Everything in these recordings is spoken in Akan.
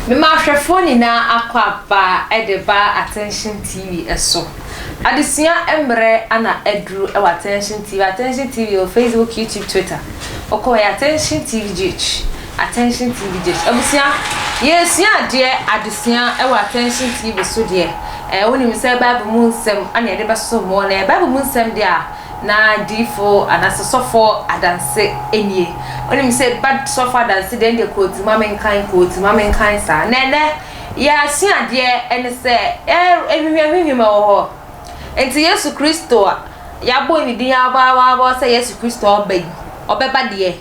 Mema ahwɛfoɔ nyinaa akɔ aba de ba Attention TV so. Adesua mmerɛ na aduru wɔ Attention TV, Attention TV wɔ Facebook, YouTube, Twitter. Wokɔ yɛ Attention TV GH. Attention TV Gyes abusua yɛresua adeɛ adesua wɔ Attention TV so deɛ ɛɛ wonim sɛ Bible mu nsɛm ana yɛde bɛsɔ mu na ɛyɛ Bible mu nsɛm deɛ a na diifo anaasɛ sɔfo adanse nie wonim sɛ ba sɔfo adanse deɛ deɛ kooti ma menkan kooti ma menkan saa na ɛnɛ yɛasua adeɛ ɛne sɛ ɛhwehwɛ hwehwɛ ma wɔ hɔ nti Yesu Kristo a yɛabɔ ne din abɔ abɔ abɔ sɛ Yesu Kristo ɔba yi ɔbɛba deɛ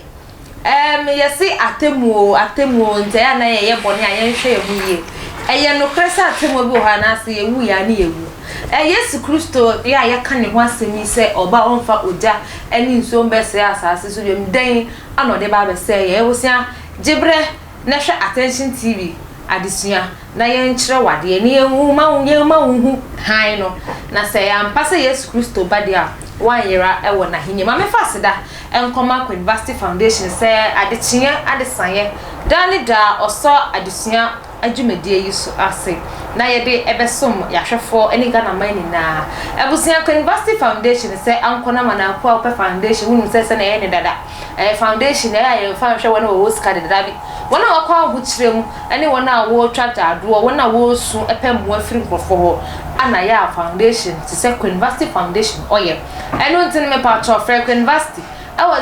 Ɛɛm, yɛse atemmuo oo, atemmuo oo, nti ɛyɛ a na yɛyɛ bɔne a yɛnhwɛ yɛn ho yie. Ɛyɛ nokorɛ sɛ atemmuo bi wɔ hɔ anaa sɛ yɛwuiɛ a ne yɛwu. Ɛɛ Yesu Kristo yi a yɛka ne ho asɛm yi sɛ ɔba a ɔmfa ogya ne nsuo mbɛsɛe asaase so biom, dɛn na ɔde ba abɛsɛe yɛn? Abusua, gyeberɛ na hwɛ Attention TV adesua na yɛnkyerɛ wo adeɛ na yɛmma yɛmma wo hu hann no, na sɛ ɛyɛ ampa sɛ Yesu Kristo ba deɛ a, woanyera wɔ N'ahennie mu. Ma memfa aseda nkɔma Queen Vashti Foundation sɛ adekyeɛ adesaeɛ daa ne daa ɔsɔ adesua dwumadie yi so ase na yɛde bɛsom Yahwɛfoɔ ne Ghana man nyinaa. Abusua Queen Vashti Foundation sɛ Anko Namana Akuapɛ Foundation, wonim sɛ sɛdeɛ yɛyɛ no dada. Ɛyɛ foundation a yɛmfa nhwɛ wɔn a wɔwɔ sika dedabi, wɔn a wɔkɔ ahokyerɛ mu, ne wɔn a wɔretwa agyaadwoɔ, wɔn a wɔresu pɛ mmoa firi nkurɔfoɔ hɔ, ana yɛ a foundation te sɛ Queenvasty Foundation ɔyɛ. Ɛno nti no mepakyɛw frɛ Queenvasty ɛwɔ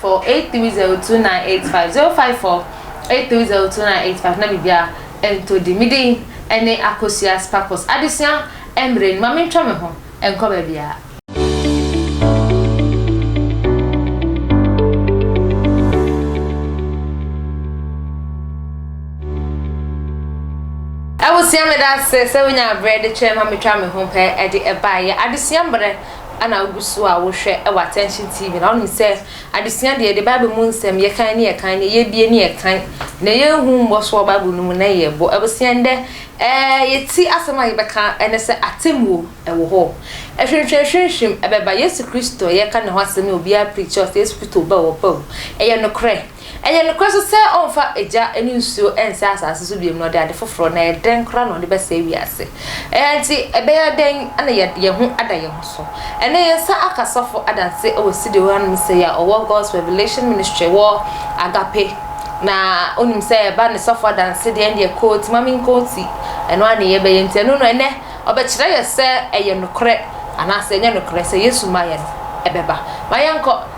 0548302985, 0548302985 na biribiara ɛntɔ din. Me din ɛne Akosua Sparkles. Adesua mmerɛ ni, ma mentwa me ho. ɛnkɔ baabiara. Abusua meda ase sɛ wonya berɛ de kyerɛ ma metwa me ho pɛ de ɛbae. Yɛ adesua mmerɛ na wogu so a wohwɛ wɔ Attention TV na wonim sɛ adesua deɛ yɛde Bible mu nsɛm yɛkan ne yɛkan ne yɛbie ne yɛkan na yɛhu mmɔ so wɔ Bible no mu na yɛbɔ. Abusua ndɛ Ɛɛ, yɛti asɛm a yɛbɛka ne sɛ atemmuo wɔ hɔ. Hwimhwimhwimhwim ɛbɛba. Yesu Kristo a yɛreka ne ho asɛm yi a obiara preachi ɔsɛ Yesu Kristo ba wɔ pɛo. Ɛyɛ nokorɛ. Ɛyɛ nokorɛ nso sɛ ɔmfa egya ne nsuo nsɛe asase so biom na ɔde ade foforɔ, na ɛdɛn koraa na ɔde bɛsɛe wiase. Ɛɛ, nti ɛbɛyɛ dɛn na yɛde yɛn ho ada yɛn ho so? so. Ɛnnɛ yɛsa aka sɔfo adanse wɔ Sidi Ohanom Sey a ɔwɔ God's Revelation Ministry wɔ Agape. Na onim sɛ ɛba ne sɔfo adanse deɛ ɛndeɛ koo ti ma me nkoo ti. Ɛno ara ne yɛbɛyɛ nti ɛno no ɛnnɛ ɔbɛkyerɛ yɛ sɛ ɛyɛ nokorɛ anaasɛ ɛnyɛ nokorɛ sɛ Yesu mmaeɛ no ɛbɛba. Ma yɛnkɔ.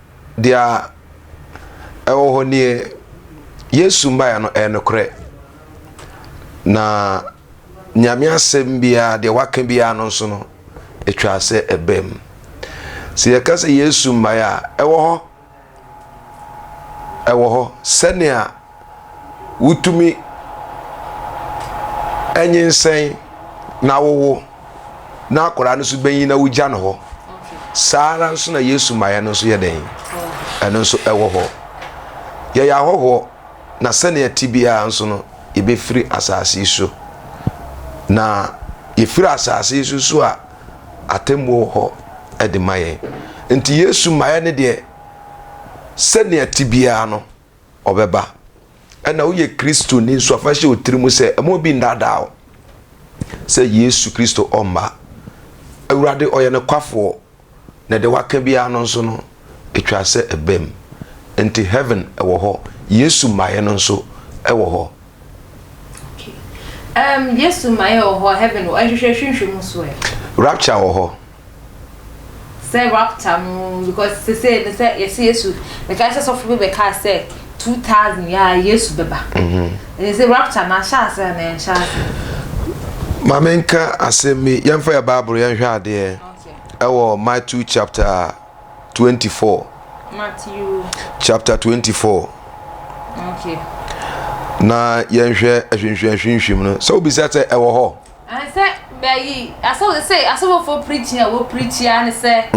deɛ ɛwɔ hɔ nie, Yesu mmaeɛ no ɛyɛ nokorɛ, na Nyame asɛm biara deɛ waka biara no nso no ɛtwa sɛ ɛbɛn mu. Sɛ yɛka sɛ Yesu mmaeɛ a ɛwɔ hɔ, ɛwɔ hɔ sɛnea wotumi nyinsɛn na wowo na akwadaa no nso bɛnyin na wogya no hɔ saa ara nso na yesu maɛ no nso yɛ dɛn ɛno nso ɛwɔ hɔ yɛyɛ ahɔhoɔ na sɛnea ti biara nso no yɛbɛfiri asase yi so na yɛfiri asase yi so so a atemmuo wɔ hɔ ɛde ma yɛn nti yesu maɛ no deɛ sɛnea ti biara no Ɔbɛba. Ɛna woyɛ Kristoni nso a, fa hyɛ wo tirim sɛ ɛma obi nnaadaa wo sɛ Yesu Kristo ɔmma. Awurade ɔyɛ nokwafoɔ, na deɛ waka biara no nso no, ɛtwa sɛ ɛbam. Nti Heaven wɔ hɔ, Yesu mmaeɛ no nso wɔ hɔ. Okay. Um, Yesu mmaeɛ wɔ hɔ, Heaven wɔ hɔ, ɛhwehwɛ hwehwɛ mu nso ɛ? Rapture wɔ hɔ. Sɛ rapture no because sesei no sɛ yɛsɛ Yesu mekae sɛ sɔfo bi bɛkae sɛ 2000 yɛ a Yesu bɛba mhm. ɛne sɛ rapture no ahyɛ ase a na ɛnhyɛ ase ma menka asɛm bi yɛmfa yɛ bible yɛnhwɛ adeɛ ɛwɔ Matthew chapter 24 Matthew chapter 24 okay. na yɛnhwɛ ahwinhwim ahwinhwim no sɛ wobisa sɛ ɛwɔ hɔ Sɛ bɛyi asɔfo sɛ asɔfofo preaching a wɔpreaching ara ne sɛ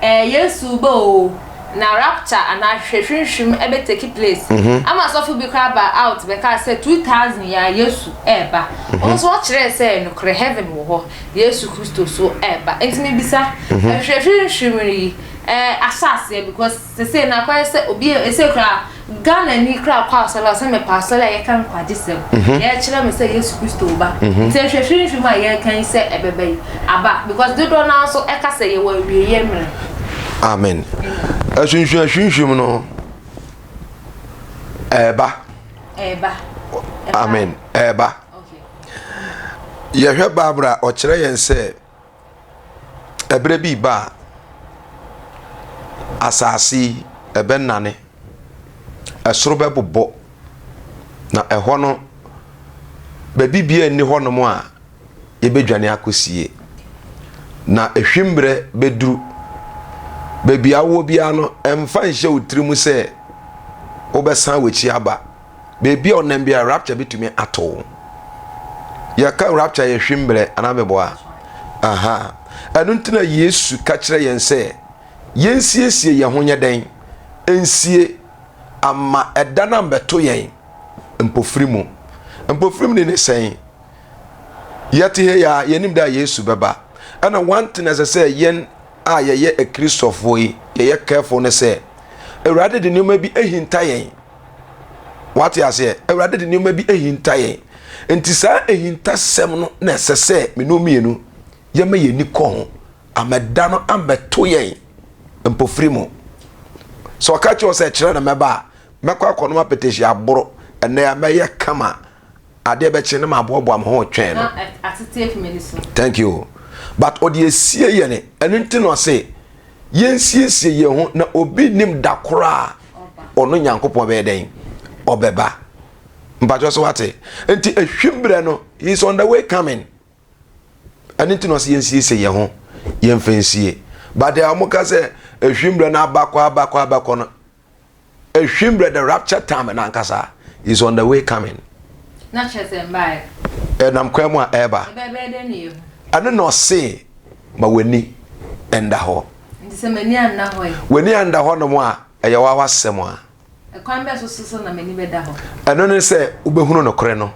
ɛɛ Yesu reba o na rapture anaa hwehwɛhwehwɛm ɛbɛ take place ama asɔfo bi koraa baa out bɛkaa sɛ two thousand yi ara Yesu ɛreba wɔn nso wɔkyerɛɛ sɛ nokorɛ heaven wɔ hɔ Yesu Kristo nso ɛreba nti mebisa hwehwɛhwehwɛm yi ɛɛ ahyɛ aseɛ because. Sesei na akɔyɛ sɛ obi a sesei koraa Ghanani koraa kɔ asɔre a ɔse mepɛ asɔre a yɛka nkwagyesɛm, yɛkyerɛ me sɛ Yesu Kristo reba. Nti nhwɛ hwirihwiri mu a yɛreka yi sɛ ɛbɛba yi, aba because dodoɔ no ara nso ɛka sɛ yɛwɔ awieɛ mmerɛ. Amen. Asunsua hwirihwiri mu no ɛreba. Ɛreba. Amen. Ɛreba. Yɛhwɛ Bible a ɔkyerɛ yɛn sɛ ɛberɛ bi reba a, asase yi ɛbɛnane, ɛsoro bɛbobɔ, na ɛhɔ no, baabi biara nni hɔnom a yɛbɛdwane akɔsie. Na ɛhwim berɛ bɛduru. Baabi a wowɔ biara no, mfa nhyɛ wo tirim sɛ wobɛsan w'akyi aba. baabi a ɔnam biara rapture bɛtumi ato wo yɛka rapture yɛ hwe mbrɛ anaa meboa aha ɛno nti na yesu ka kyerɛ yɛn sɛ yɛnsiesie yɛn ho nyɛ dɛn nsie ama ɛda no ambɛto yɛn mpofiri mu mpofiri mu ne ne sɛn yɛte hɛ yɛ a yɛnim dɛ a yesu bɛba ɛna one thing ɛsɛ sɛ yɛn a yɛyɛ akristofoɔ yi yɛyɛ careful ne sɛ awurade de nneɛma bi ahinta yɛn Wate aseɛ? Awurade de nneɛma bi ahinta yɛn. Nti saa ahintasɛm no na ɛsɛ sɛ mene mmienu yɛma yɛn ani kɔ ho. Amɛda no amɛto yɛn mpofiri mu. Sɛ ɔka kyerɛ sɛ kyerɛ na mɛba a, mɛkɔ akɔnom apɛtɛsi aboro, ɛnɛ a mɛyɛ kama adeɛ bɛkye na maboaboa me ho retwɛn no. Na atete afi m'ani so. Thank you. But ɔde asie yɛn. Ɛno nti na ɔse yɛnsiesie yɛn ho na obi nnim da koro a ɔno Nyankopɔn bɛyɛ dɛn? Ɔbɛba. Mpakyɛ so wate? Nti ehwim berɛ no, he is on the way coming. Ɛno nti na ɔse yɛnsiesie yɛn ho, yɛmfa nsie. But deɛ wɔka sɛ ehwim berɛ no abakɔ abakɔ abakɔ no, Ehwim brɛ the rapture time no ankasa is on the way coming. Na kyerɛ sɛ mbaeɛ. Ɛnam kwan mu a ɛreba. Ɛbɛyɛ dɛn na yɛahu? Ɛno na ɔse ma w'ani nda hɔ. Nti sɛ m'ani anna hɔ ɛ? W'ani anda hɔnom a, ɛyɛ w'awa asɛm a. Ɛkwan bɛn so so na m'ani bɛda hɔ? Ɛno ne sɛ wobɛhunu nokorɛ no.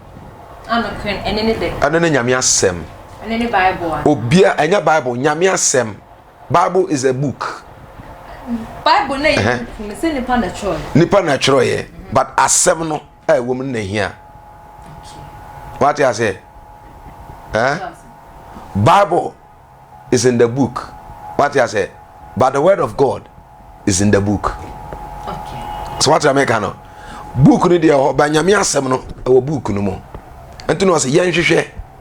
A nokorɛ no, ɛno ne dɛn? Ɛno ne Nyame asɛm. Ɛno ne Bible anaa? Obia, ɛnyɛ Bible, Nyame asɛm. Bible is a book. Bible na yɛ book no sɛ nipa na twerɛ yɛ. Nipa na twerɛ yɛ but asɛm no a ɛwɔ mu na hia. Wate aseɛ? Eh? Bible is in the book. Wate aseɛ? But the word of God is in the book. Okay. So wate ameka no? Book no deɛ hɔ ba nyame asɛm no ɛwɔ book no mu. Nti na ɔsɛ yɛnhwehwɛ.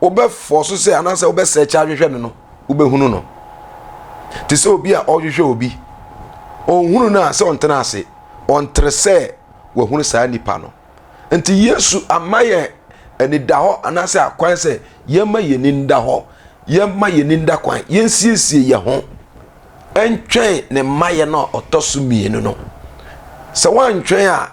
wobɛfɔɔso sɛ anaasɛ wobɛsɛɛkye ahwehwɛ no no, wobɛhunu no. Te sɛ obi a ɔrehwehwɛ obi, ɔnhunu no a sɛ ɔntena ase, ɔntere sɛ wahunu saa nipa no. Nti Yesu ama yɛn anidahɔ anaasɛ akwan sɛ yɛmma yɛn ani nda hɔ, yɛmma yɛn ani nda kwan, yɛnsiesie yɛn ho ntwɛn ne mmaeɛ no a ɔtɔ so mmienu no. Sɛ woantwɛn a,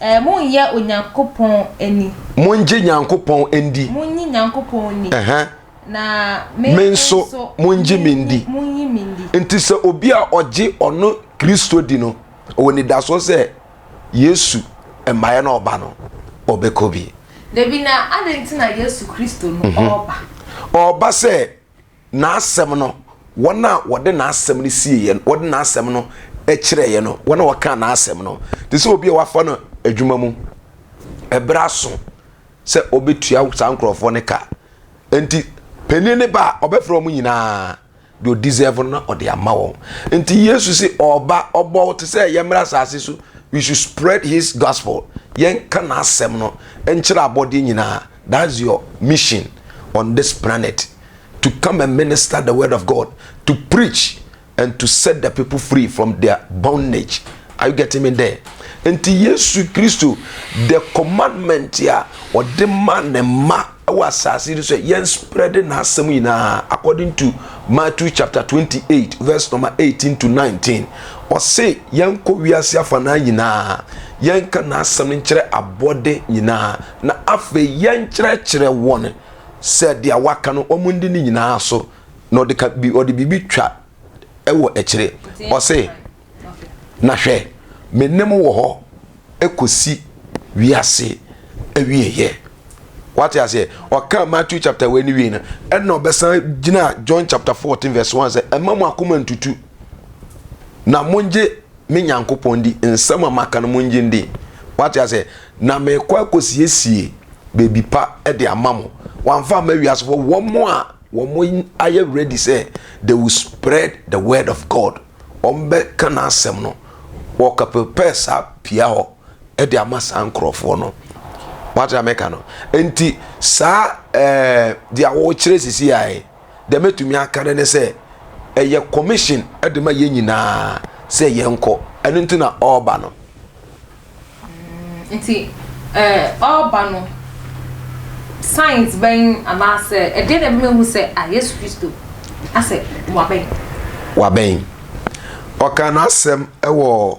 Ɛɛ, monyɛ Onyankopɔn nni. Mongye Nyankopɔn ndi. Monyi Nyankopɔn nni. Ɛhɛ. Na me, me nso, nso mongye me ndi. Monyi me ndi. Nti sɛ obi a ɔgye ɔno Kristo di no, ɔwɔ nidasoɔ sɛ Yesu mmaeɛ no ɔba no, ɔbɛkɔ bi. Dabi, na adɛn nti na Yesu Kristo no ɔreba? Ɔreba sɛ N'asɛm no, wɔn a wɔde n'asɛm no sie yɛn, wɔde n'asɛm no kyerɛ yɛn no, wɔn a wɔka n'asɛm no, te sɛ obi a wafa no adwuma mu, ɛberɛ aso sɛ ɔbɛtua saa nkurɔfoɔ no ka. Nti, panin ne ba a ɔbɛfrɛ wɔn nyinaa, deɛ ɔdisɛvo no na ɔde ama wɔn. Nti Yesu se ɔba, ɔbɔ wo te sɛ yɛmmra asase so, we should spread his gospel, yɛnka n'asɛm no nkyerɛ abɔdeɛ nyinaa. That's your mission on this planet to come and minister the word of God to preach and to set the people free from their bondage are you getting me there nti Yesu Kristo the commandment a ɔde ma ne mma ɛwɔ asase no so yɛn spread n'asɛm nyinaa according to Matthew chapter 28 verse number 18 to 19 ɔse yɛn kɔ wiase afa naa nyinaa yɛn ka n'asɛm no nkyerɛ abɔde nyinaa Na afei yɛnkyerɛkyerɛ wɔn sɛ deɛ waka no wɔn ndi ne nyinaa so. Na ɔde ka bi ɔde biribi twa wɔ akyire. Ɔse, na hwɛ, me ne mo wɔ hɔ kɔsi wiase awieɛ. Wate aseɛ? Ɔkaa Matthew chapter wei ne wie no, ɛna ɔbɛsan gyina John chapter 14 verse 1 sɛ, ɛma mo akoma ntutu, na mongye me Nyankopɔn di nsɛm a maka no mu ngye ndi. Wate aseɛ? Na merekɔ akɔsiesie baabi pa de ama mo. Wamfa amma wiasefoɔ, wɔn a wɔn ayɛ ready sɛ they will spread the word of God. Wɔbɛka n'asɛm no. Wɔka prepare saa pia hɔ de ama saa nkurɔfoɔ no. Wate deɛ meka no? Nti saa ɛɛ deɛ wɔrekyerɛ sisi ae. deɛ mɛtumi aka no ne sɛ ɛyɛ commission de ma yɛn nyinaa sɛ yɛnkɔ ɛno nti na ɔreba no mm, nti ɔreba no science bɛn anaasɛ ɛdeɛ na ɛbɛma hu sɛ a yesu kristo asɛ wabɛn wabɛn ɔka n'asɛm wɔ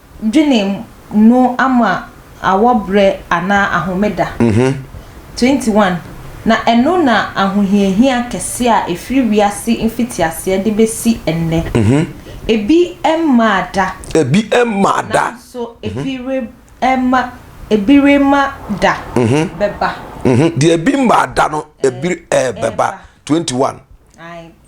Dwene no ama awɔ berɛ anaa ahomeda. 21, Na ɛno na ahohiahia kɛseɛ a ɛfiri wiase mfitiaseɛ de bɛsi ɛnnɛ. Ebi mmaa da. Ebi mmaa da. Nanso ebi rema, ebi rema da bɛba. Deɛ ebi mmaa da no, ebi rebɛba. 21.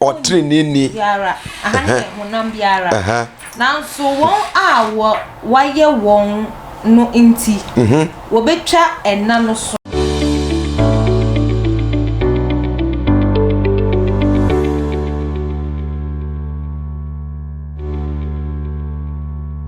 ɔtreneeni biara, aha no yɛ honam biara, nanso wɔn a wɔayɛ wɔn no nti, wɔbɛtwa ɛna no so.